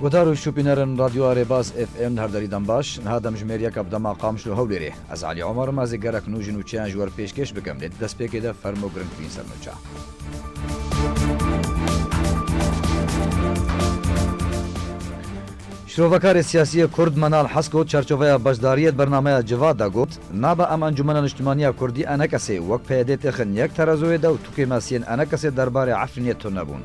Guhdar û şûpîner in Radyo a Rêbaz FM li her derî dem baş. Niha demjimêriyeka bi dema Qamişlo Hewlêrê. Ez Elî Omer im, ez ê gelek nû ji nûçeyan ji wer pêşkêş bikim lê di destpêkê de fermo giringtirîn sernûça. Şrovekarê siyasî yê Kurd Menal Hesko çarçoveya beşdariyê di bernameya Civat de got, Nabe em Encûmena Niştimaniya Kurdî enekesê wek PYD têxin yek terazoyê de û tukê me siyên enekesê derbarê Efrînê tune bûn.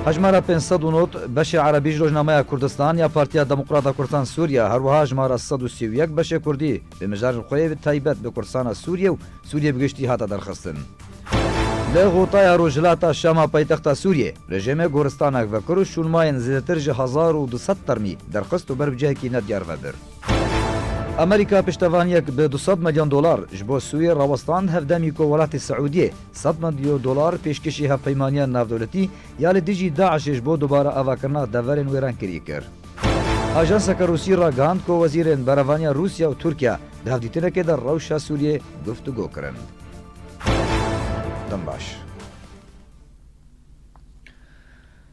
Hejmara pênc sed û nod, beşê erebî ji Rojnameya Kurdistan ya Partiya Demokrat a Kurdisan Sûriye, herwiha hejmara sed û sî û yek beşê kurdî bi mijarên xwe yê bi taybet bi Kurdisana Sûriye û Sûriye bi giştî hate derxistin. Li Xotaya Rojhilata Şama paytexta Sûriyê, rejêmê goristanek vekir û şûnmayên zêdetir ji hezar û du sed termî derxist û ber bi cihekî nediyar ve bir. Amerîka piştevaniyek bi du sed milyon dolar ji bo Sûriyê rawestand hevdemî ku welatê Siûdiyê, Sed milyon dolar pêşkêşî hevpeymaniya navdewletî ya li dijî DAIŞ'ê ji bo dubare avakirina deverên wêrenkirî kir. Ajanseke Rûsî ragihand ku wezîrên berevaniya Rûsya û Tirkiye di hevdîtinekê de rewşa Sûriyeyê guftûgo kirin. Dem baş.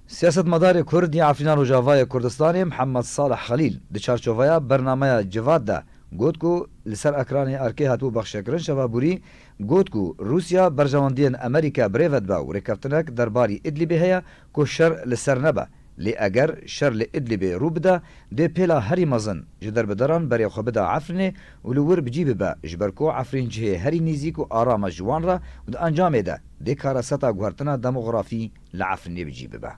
Siyasetmedarê Kurd yê Efrîna Rojavayê Kurdistanê Mihemed Salih Xelîl di çarçoveya bernameya Civat de got ku li ser ekranê erkê hatibû bexşekirin şeva borî Got ku Rûsya berjewendiyên Amerîka bi rê ve dibe û rêkeftinek derbarî Îdlîbê heye ku şer li ser nebe. Lê eger şer li Îdlîbê rû bide, dê pêla herî mezin ji derbederan berê xwe bida Efrînê û li wir bi cî bibe ji ber ku Efrîn cihê herî nêzîk û aram e ji wan re û di encamê de dê kareseta guhertina demografî li Efrînê bi cî bibe.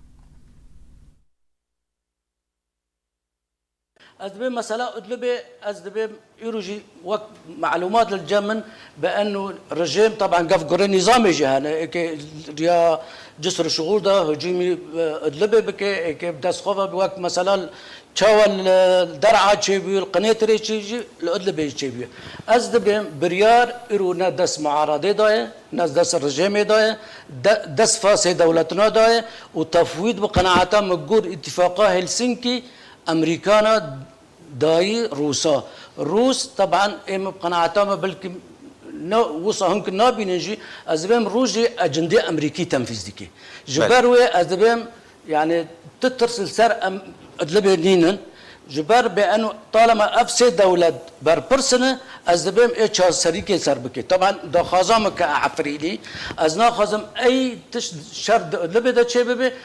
Ez dibêm mesela Idlibê ez dibêm îro jî wek malûmat li cem in bi enû rijêm taban gef gurê nîzamê jî hene êkê riya cisr û şiûr da hicûmî Idlibê bike êkê bi dest xwe ve wek mesela li çawa li Der'a çêbûye li Qinêtirê çê jî li Idlibê jî çêbûye. Ez dibêm biryar îro ne dest muaradê da ye ne dest rijêmê da ye de dest fasê dewletina da ye û tefwîd bi qenaeta min gur îtîfaqa Hêlsinkî Emerîkana dayî Rûsa. Rûs teban ê min bi qenaeta min belkî ne wisa hûn ki nabînin jî ez dibêm Rûs jî ecendê Emerîkî tenfîz dike. Ji ber wê ez dibêm yanî tu tirs li ser em Idlibê nînin. Ji ber bê eno talema ev sê dewlet berpirs in ez dibêm ê çareserîkê ser bike. Teban daxwaza min ke Efrînî ez naxwazim ey tişt şer di Idlibê de çêbibe.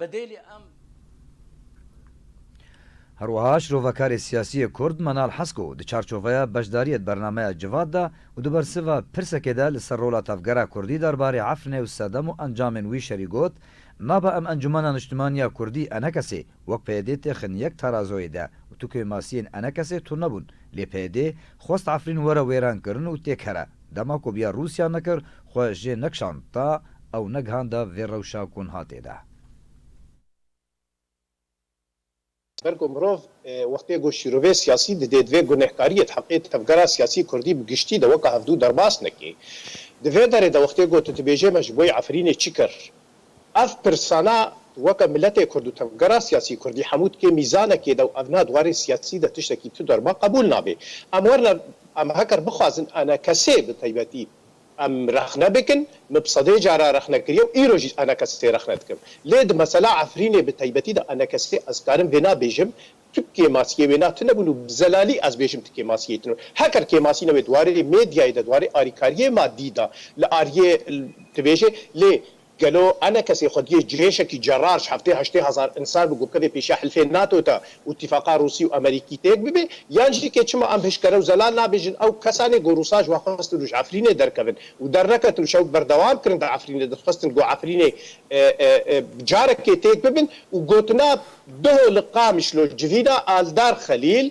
Bedêlî em. Her wiha şrovekarê siyasî yê Kurd Manal Hasko di çarçoveya beşdariyê di bernameya Civat de û di bersiva pirsekê de li ser rola tevgera Kurdî der barê Efrinê û sedem û encamên wî şerî got, Maba em Encumena Niştimanî ya Kurdî NKSê wek PYD tê xin yek tarazoyê de û tu kêmasiyên NKSê tune bûn lê PYD xwest Efrîn were wêrankirin û têkere dema ku biya Rûsya nekir Xwe jê nekişand ta ew negihanda vê rewşa ku niha tê de. Ber ku mirov wextê ku şîrovê siyasî didê divê gunehkariyê di heqê tevgera siyasî kurdî bi giştî de weke hevdû derbas neke. Di vê derê de wextê ku tu dibêjê me ji bo yê Efrînê çi kir? Ev pirsana tu weke miletê kurd û tevgera siyasî kurdî hemû dikê mîzanekê de û ev na di warê siyasî de tiştekî tu derba qebûl nabe. Em werna em heger bixwazin ene kesê bi taybetî Em rexne bikin, min bi sedê caran rexne kiriye û îro jî ana kesê rexne dikim. Lê di mesela Efrînê bi taybetî de ana kesê ez karim vêna bêjim tu kêmasiyê wêna tune bûn û bi zelalî ez bêjim tu kêmasiyê tune bûn. Heqir kêmasî nebe di warê mêdyayê de, di warê arîkariyê madî de li ariyê dibêje lê Gelo ane kesê xwediyê cihêşekî cerar ji heftê heştê hezar însan bi gurkevê pêşiya hilfên nato de û îtîfaqa rûsî û amerîkî têk bibe? Yan jî kê çima em hişkere û zelal nabêjin ew kesan ê ku rûsan ji we xwestin û ji efrînê derkevin û derneketin û şewb berdewam kirin di efrînê de dixwestin ku efrînê bi carekê têk bibin û gotina Duho li Qamişlo civîna Aldar Xelîl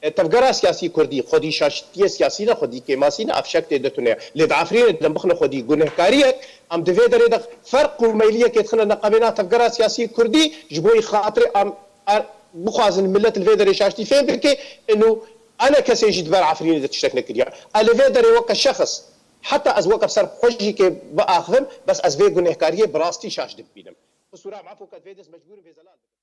Tevgera siyasî kurdî xwedî şaşitiyê siyasî ne, xwedî kêmasî ne, ev şek tê de tune. Lê di Efrînê dem bixine xwedî gunehkariyek, em di vê derê de ferq û meyliyekê dixine neqabêna tevgera siyasî kurdî ji bo xatirê em er bixwazin milet li vê derê şaştî fêm bike in û ane kesê jî di ber Efrînê de tiştek nekiriya. Ez li vê derê weke şexs heta ez weke ser xwe jî kê biaxivim bes ez vê gunehkariyê bi rastî şaş dibînim. Xisûra em efo ke di vê dest mecbûr in vê zelal bikin.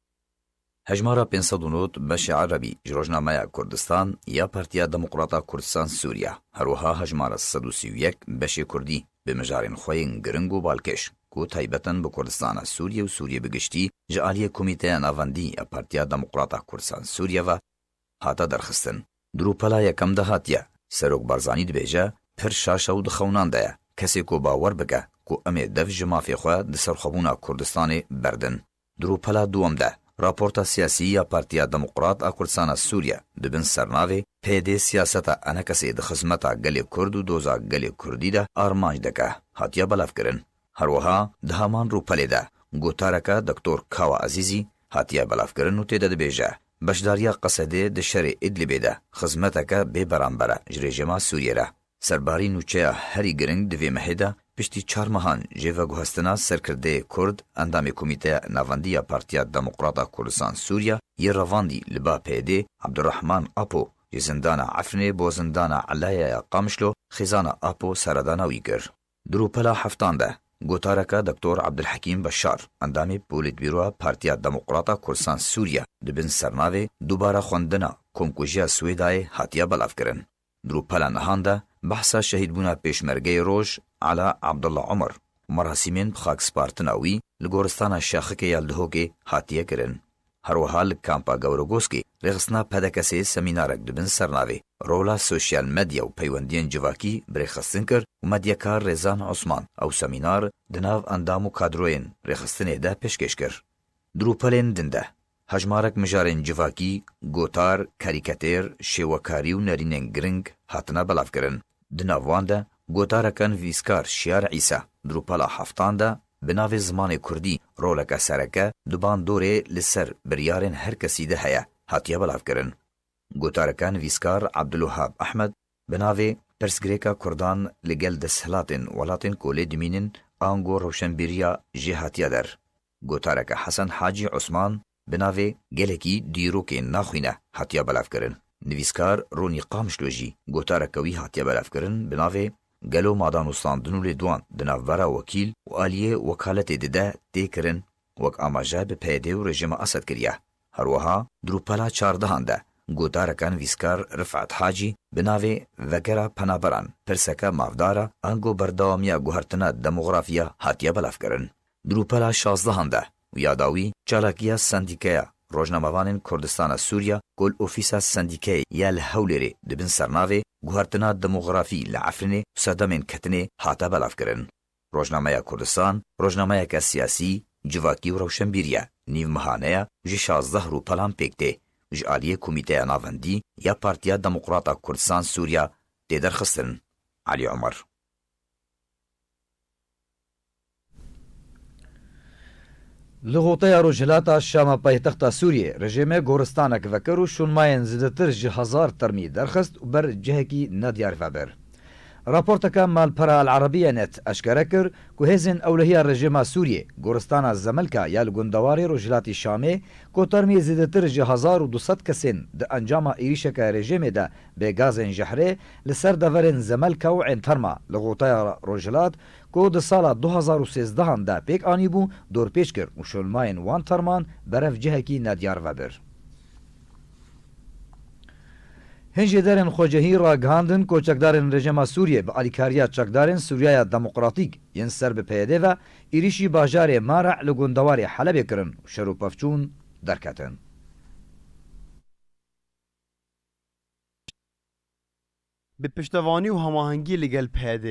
Hejmara pênc sed û nod beşê erebî ji rojnameya Kurdistan ya Partiya Demokrata Kurdistan Sûriya, herwiha hejmara sed û sî û yek beşê kurdî bi mijarên xwe yên giring û balkêş ku taybet in bi Kurdistana Sûriyê û Sûriyê bi giştî ji aliyê Komîteya Navendî ya Partiya Demokrata Kurdistan Sûriyê ve hate derxistin. Di rûpela yekem de hatiye, Serok Barzanî dibêje, Pir şaş e û di xewinan de ye. Kesê ku bawer bike ku em ê dev ji mafê xwe di serxwebûna Kurdistanê berdin. Di rûpela dûm de, raporta siyasî ya Partiya Demokrat a Kurdistana Sûriye di bin sernavê PD siyaseta enekesê di xizmeta gelê Kurd û doza gelê Kurdî de armanc dike hatiye belavkirin. Her wiha di heman rûpelê de gotareke Doktor Kawa Ezîzî hatiye belavkirin û tê de dibêje, Beşdariya Qesedê di şerê Îdlibê de xizmeteke bê beramber e ji rejîma Sûriyê re. Serbarî nûçeya herî giring di vê mehê de piştî çar mehan jê veguhestina serkirdeyê kurd endamê Komîteya Navendî ya Partiya Demokrat a Kurdistan Sûriya yê revandî li ba PYD'ê Abdurrahman Apo ji zindana Efrinê bo zindana Elaya ya Qamişlo xêzana Apo seredana wî kir. Di rûpela heftan de gotareke Doktor Abdulhekîm Beşar endamê Polîtbîroya Partiya Demokrat a Kurdistan Sûriya di bin sernavê Dubare xwendina komkujiya Swêdayê hatiye belavkirin. Di rûpela nihan de behsa şehîdbûna Pêşmergeyê Roj Ala Abdullah Omer û merasîmên bi xakspartina wî li goristana Şaxikê ya Dihokê hatiye kirin. Her wiha li Kampa Gawrogoskê rêxistina PDKS'ê semînarek di bin sernavê Rola Sosyal Medya û Peywendiyên Civakî bi rêxistin kir û medyakar Rêzan Osman ew semînar di nav endam û kadroyên rêxistinê de pêşkêş kir. Di rûpelên din de Hejmarek mijarên civakî, gotar, karîketêr, şêwekarî û nerînên giring hatine belavkirin. Di nav wan de gotarekan vîskar Şiyar Îsa di rûpela heftan de bi navê Zimanê Kurdî roleke sereke di bandorê li ser biryarên her kesî de heye hatiye belavkirin. Gotarekan vîskar Abdulwehab Ehmed bi navê Pirsgirêka Kurdan li gel desthilatên welatên ku lê dimînin ango rewşenbîriya jê hatiye der. Gotareke Hesen Hacî Osman bi navê Gelekî dîrokê naxwîne hatiye belevkirin. Nivîskar Ronî Qamişlo jî gotareke wî hatiye belevkirin bi navê Gelo madan û standin û lêdwan di navbera wekîl û aliyê wekaletê di de tê kirin wek amaje bi PYD û rejîma Esed kiriye. Herweha di rûpela çardehan de gotareke nivîskar Rifet Hacî bi navê Vegera penaberan pirseke mafdar a ango berdewamiya guhertina demografiya hatiye belevkirin. Grûpera şazdehan de û ya dawî çalakiya Sendîkeya Rojnamevanên Kurdistana Sûriya ku li ofîsa sendîkeyê ya li Hewlêrê di bin sernavê Guhertina Demografî li Efrînê û Sedemên Ketinê hate belavkirin. Rojnameya Kurdistan rojnameyeke siyasî, civakî û rewşenbîr ye, nîvmehane ye û ji şazdeh rûpelan pêk tê û ji aliyê Komîteya Navendî ya Partiya Demokrata Kurdistan Sûriya tê derxistin. Elî Omer. Li Xuteya Rojhilata Şama paytexta Sûriyeyê rejîmê goristanek vekir û şûnmayên zêdetir ji hezar termî derxist û ber cihekî nediyar vebir. Raporteke malpera El Arabiye Net eşkere kir ku hêzên ewlehiya rejîma Sûriyê goristana Zemilka ya li gundewarê rojhilatî Şamê ku termî zêdetir ji hezar û du sed kesên di encama êrîşeke rejîmê de bê gazên jehrê li ser deverên Zemelka û Ên Terma li Xuteya Rojhilat ku di sala du hezar û sêzdehan de pêk anîbû, dorpêç kir û şonmayên wan terman berev cihekî nediyar vebir. Hilşêderên xwecihî ragihandin ku çekdarên rejîma Sûriyê bi alîkariya çekdarên Sûriyaya Demokratîk yên ser bi PYD ve êrîşî bajarê Mareh li gundewarê Helebê kirin û şer û pevçûn derketin. Bi piştevanî û hemahengî li gel PYD,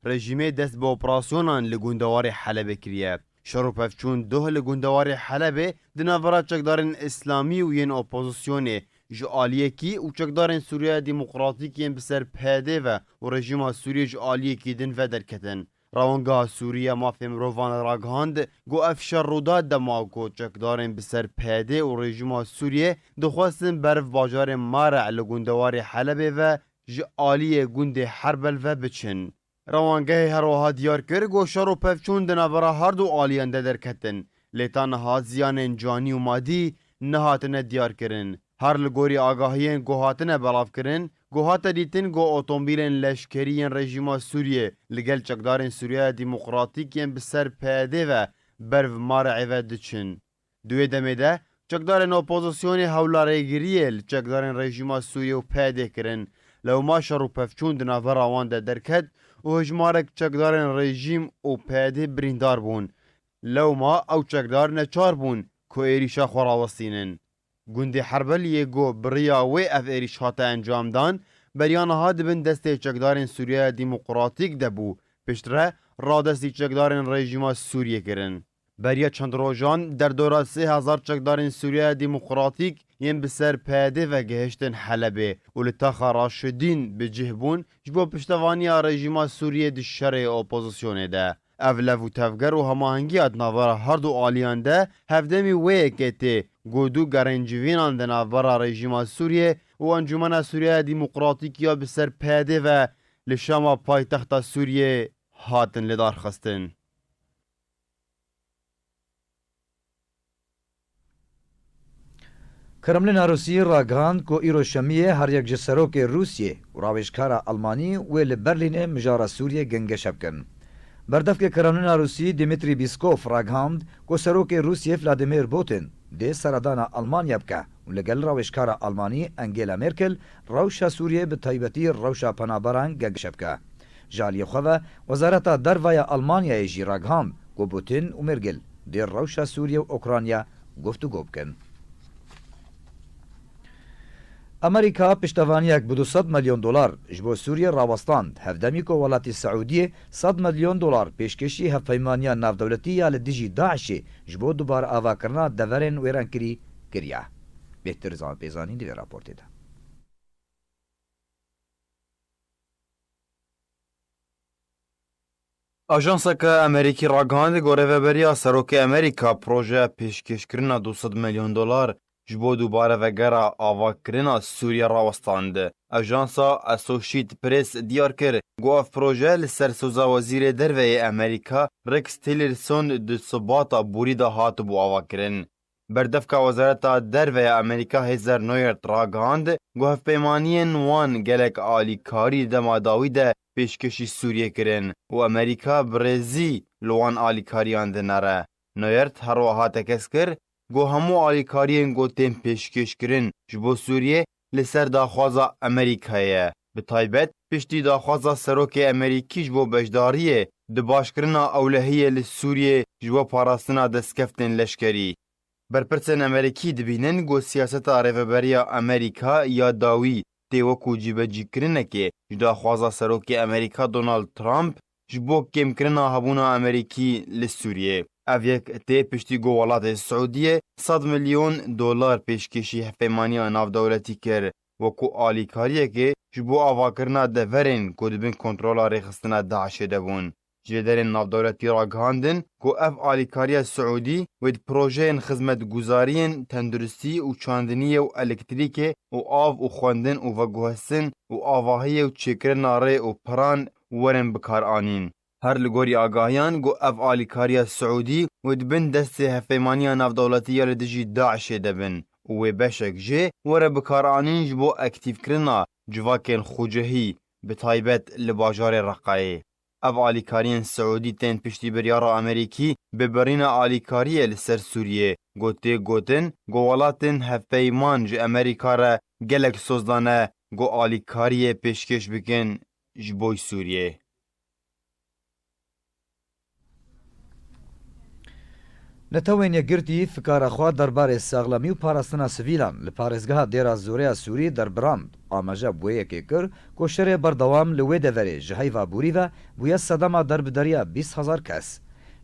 rejîmê dest bi operasyonan li gundewarê Helebê kiriye. Şer û pevçûn doh li gundewarê Helebê di navbera çekdarên îslamî û yên opozisyonê ji aliyekî û çekdarên Sûriyeya Demokratîk yên bi ser PYD ve û rejîma Sûriyê ji aliyekî din ve derketin. Rawongeha Sûrî ya Mafê Mirovan ragihand ku ev şer rûda dema ku çekdarên bi ser PYD û rejîma Sûriyê dixwestin beriv bajarê Mareh li gundewarê Helebê ve ji aliyê gundê Herbel ve biçin. Rawangehê herwiha diyar kir ku şer û pevçûn di navbera her du aliyan de derketin Lê ta niha ziyanên canî û madî nehatine diyarkirin. Her li gorî agahiyên ku hatine belavkirin, ku hate dîtin ku otomobîlên leşkerî yên rejîma Sûriyê li gel çekdarên Sûriyaya Demokratîk yên bi ser PYD'ê ve ber vi Mar'ê ve diçin. Di wê demê de çekdarên opozisyonê hewlarêgiriyê li çekdarên rejîma Sûriyê û PYD'ê kirin. Lewma şer û pevçûn di navbera wan de derket û hejmarek çekdarên rejîm û PYD'ê birîndar bûn. Lewma ew çekdar neçar bûn ku êrîşa xwe rawestînin. Gundê Herbeliyê ku bi riya wê ev êrîş hate encamdan, beriya niha di bin destê çekdarên Sûriyeya Dîmoqratîk de bû, piştre radestî çekdarên rejîma Sûriyê kirin. Beriya çend rojan derdora sê hezar çekdarên Sûriyeya Dîmoqratîk yên bi ser PYDê ve gihiştin Helebê û li taxa Raşidîn bi cih bûn ji bo piştevaniya rejîma Sûriyê di şerê opozisyonê de. Ev lev û tevger û hemahengiya di navbera her du aliyan de hevdemî wê yekê tê ku du gerên civînan di navbera rejîma Sûriyê û Encûmena Sûriyaya Dîmoqratîk ya bi ser PYDê ve li Şama paytexta Sûriyê hatin lidarxistin. Kremlîna Rûsiyê ragihand ku îro şemiyê her yek ji serokê Rûsiyê û rawêjkara Elmanî wê li Berlînê mijara Sûriyê gengeşe bikin. Berdevkê Kremlîna Rûsiyê Dimitrî Bîskof ragihand ku serokê Rûsiyê Vladimir Bûtin dê seredana Elmanya bike. û li gel rawêjkara Almanî Angela Merkel rewşa Sûriyeyê bi taybetî rewşa penaberan geşe bike. Ji aliyê xwe ve Wezareta Derve ya Almanyayê jî ragihand ku Putin û Mergel dê rewşa Sûriye û Ûkranya guftûgo bikin. Amerîka piştevaniyek bi du sed milyon dolar ji bo Sûriyê rawestand, hevdemî ku welatî Siûdiyê sed milyon dolar pêşkêşî Hevpeymaniya Navdewletî ya li dijî DAIŞ'ê ji bo dubareavakirina deverên wêrankirî kiriye. Bêhtir zan pê zanîn di vê raportê de. Ajanseke Amerîkî ragihandî ku Rêveberiya Serokê Amerîka projeya pêşkêşkirina du sed milyon dolar ji bo dubare vegera avakirina Sûriyê rawestand. Ajansa Associate Press diyar kir ku ev proje li ser soza Wezîrê Derve yê Amerîka Rex Tillerson di Sibata borî de hatibû avakirin. Berdevka Wezareta Derve ya Amerîka Heather Nauert ragihand ku hevpeymaniyên wan gelek alîkarî di dema dawî de pêşkêşî Sûriyê kirin û Amerîka bi rêzî li wan alîkariyan dinere. Nauert herwiha tekez kir ku hemû alîkariyên ku tên pêşkêşkirin ji bo Sûriyê Li ser daxwaza Amerîkayê, bi taybet piştî daxwaza serokê Amerîkî ji bo beşdariyê di başkirina ewlehiyê li Sûriyê ji bo parastina destkeftên leşkerî, berpirsên Amerîkî dibînin ku siyaseta Rêveberiya Amerîka ya dawî tê wekû cîbecîkirinekê ji daxwaza serokê Amerîka Donald Trump ji bo kêmkirina hebûna Amerîkî li Sûriyê. Ev yek tê piştî ku welatê Siûdiyê sed milyon dolar pêşkêşî hevpeymaniya navdewletî kir wekû alîkariyekê ji bo avakirina deverên ku di bin kontrola rêxistina DAIŞ'ê de bûn. Cihêderên navdewletî ragihandin ku ev alîkariya Siûdî wê di projeyên xizmetguzariyên tenduristî û çandiniyê û elektrîkê û av û xwendin û veguhestin û avahiyê û çêkirina rê û piran werin bikaranîn. Her li gorî agahiyan ku ev alîkariya Siûdî û di bin destê Hevpeymaniya Navdewletî ya li dijî DAIŞ'ê de bin û wê beşek jê were bikaranîn ji bo ektîvkirina civakên xwecihî bi taybet li bajarê Reqayê. Ev alîkariyên Siûdî tên piştî biryara Amerîkî bi birîna alîkariyê li ser Sûriyê ku tê gotin ku welatên hevpeyman ji Amerîka re gelek soz dane ku alîkariyê pêşkêş bikin ji boy Sûriyeyê. Netewên Yekgirtî fikara xwe derbarê saxlemî û parastina sivîlan li parêzgeha Dêra Zoreya Sûrî derbrand, amaje bi wê yekê kir ku şerê berdewam li wê deverê ji heyva bûrî ve bûye sedema derbideriya bîst hezar kes.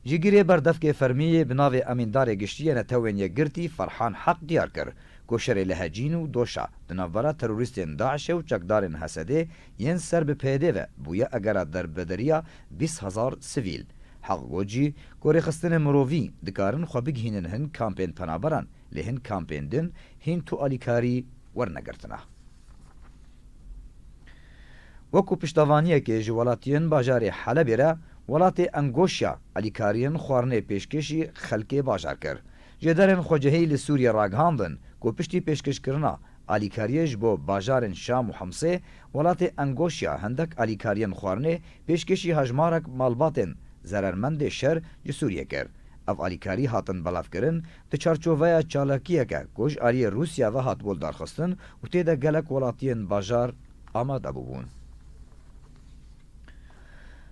Jîgirê berdevkê fermî yê bi navê Emîndarê Giştî yê Netewên Yekgirtî Ferhan Heq diyar kir ku şerê li Hecîn û Doşa di navbera terorîstên DAIŞ'ê û çekdarên Hesedê yên ser bi PYD'ê ve bûye egera derbederiya bîst hezar sivîl. Heq got jî ku rêxistinên mirovî dikarin xwe bigihînin hin kampên penaberan lê hin kampên din hîn tu alîkarî wernegirtina. Wek ku piştevaniyekê ji welatiyên bajarê Helebê re welatê Engoşya alîkariyên xwarinê pêşkêşî xelkê bajar kir. Jêderên Xwecihî li Sûriyê ragihandin ku piştî pêşkêşkirina alîkariyê ji bo bajarên Şam û Himsê, welatê Engoşya hindek alîkariyên xwarinê pêşkêşî hejmarek malbatên zerermendê şer ji Sûriyê kir. Ev alîkarî hatin belavkirin di çarçoveya çalakiyeke ku ji aliyê Rûsya ve hatibû lidarxistin û tê de gelek welatiyên bajar amade bûbûn.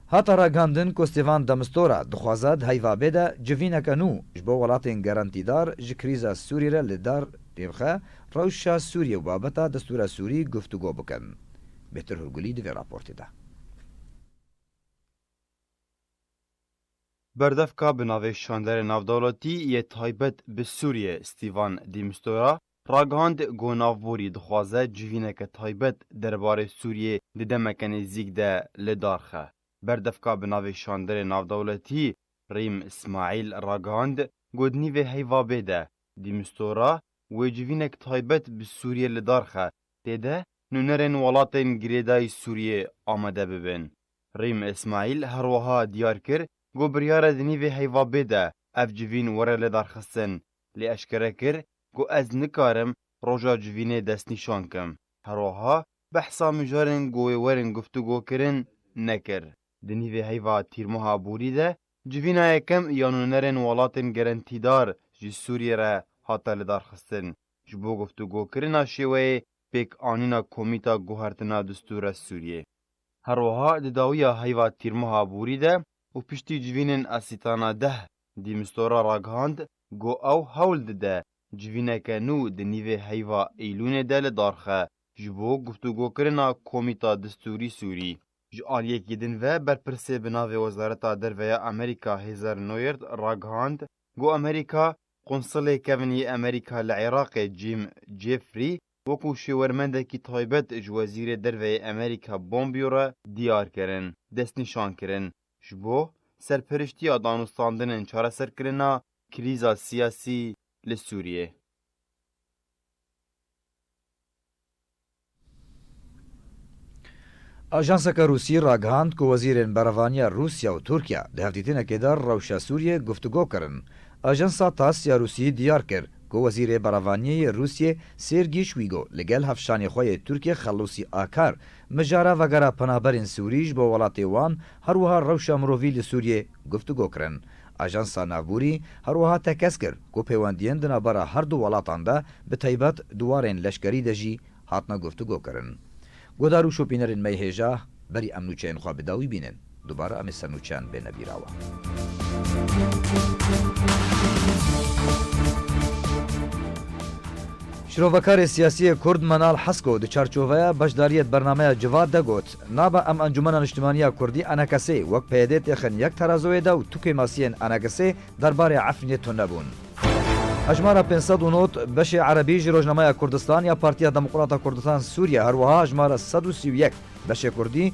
Hate ragihandin ku Stêvan de Mistura dixwaze di heyvabê de civîneke nû ji bo welatên gerentîdar ji krîza Sûrî re li dar pêbixe, rewşa Sûrî û babeta destûra Sûrî guftûgo bikin. Bêhtir Hurgulî di vê raportê de. Berdevka bi navê Şanderê Navdewletî yê Taybet bi Sûriyê Stîvan Dî Mistura ragihand ku navborî dixwaze civîneke taybet derbarê Sûriyê di demeke nêzîk de li dar xe. Berdevka bi navê Şandrê Navdewletî Rîm Smaîl ragihand ku di nîvê heyvabê de, di mistora, wê civînek taybet bi Sûriyê li dar xe, tê de nûnerên welatên girêdayî Sûriyê amade bibin. Rîm Smaîl herwiha diyar kir ku biryare di nîvê heyvabê de ev civîn were lêdarxistin, lê eşkere kir ku ez nikarim roja civînê destnîşan kim. Herwiha behsa mijarên ku wê werin guftûgo kirin nekir. Di nîvê heyva tîrmeha borî de civîna yekem ya nûnerên welatên gerentîdar ji Sûriyê re hate lidarxistin ji bo guftûgokirina şêweyê pêkanîna Komîta Guhertina Distûra Sûriyê. Herwiha di dawiya heyva tîrmeha borî de û piştî civînên Asîtana deh dî Mistora ragihand Go ew hewl dide civîneke nû di nîvê heyva Eylûnê de li dar xe ji bo guftûgokirina Komîta Distûrî Sûrî. Ji aliyekî din ve berpirsê bi navê Wezareta Derve ya Amerîka Heather Nauert ragihand ku Amerîka Qonsilê kevn yê Amerîka li Iraqê Jim Jeffrey wekû şêwermendekî taybet ji Wezîrê Derve yê Amerîka Pompeo re diyar kirin destnîşan kirin Ji bo serpiriştiya danûstandin ên çareserkirina krîza siyasî li Sûriyê. Ajanseke Rûsî ragihand ku wezîrên berevaniya Rûsya û Tirkiye di hevdîtinekê de rewşa Sûriyê guftûgo kirin. Ajansa TASS ya Rûsî diyar kir ku wezîrê berevaniyê yê Rûsyê Sêrgî Şwîgo li gel hevşanê xwe yê Tirkê Xelûsî Akar Mijara vegera penaberên Sûrî ji bo welatê wan her wiha rewşa mirovî li Sûriyê guftûgo kirin. Ajansa Navbûrî her wiha tekez kir ku pêwendiyên di navbera her du welatan de bi taybet di warên leşkerî de jî hatine guftûgo kirin. Guhdar û şopînerên me yê hêja berî em nûçeyên xwe bi dawî bînin. Dubare em ê se nûçeyên bêne bîra we. Şrovekarê siyasî yê Kurd Menal Hesko di çarçoveya beşdariyê di bernameya Civat de got, Nabe em Encûmena Niştimanî ya Kurdî, Enhkesê, wek PYD'ê têxin yek terazoyê de û tukê masiyên Enhkesê derbarê Efrînê tune bûn. Hejmara pênc sed û nod, beşê erebî ji Rojnameya Kurdistan ya Partiya Demokrata Kurdistan Sûriye, herwiha hejmara sed û sî û yek, beşê kurdî,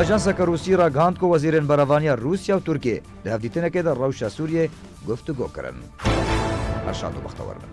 Ajanseke Rûsî ragihand ku wezîrên berevaniya Rûsya û Tirkiyê di hevdîtinekê de rewşa Sûriyê guftûgo kirin. Her şad û bextewar bin.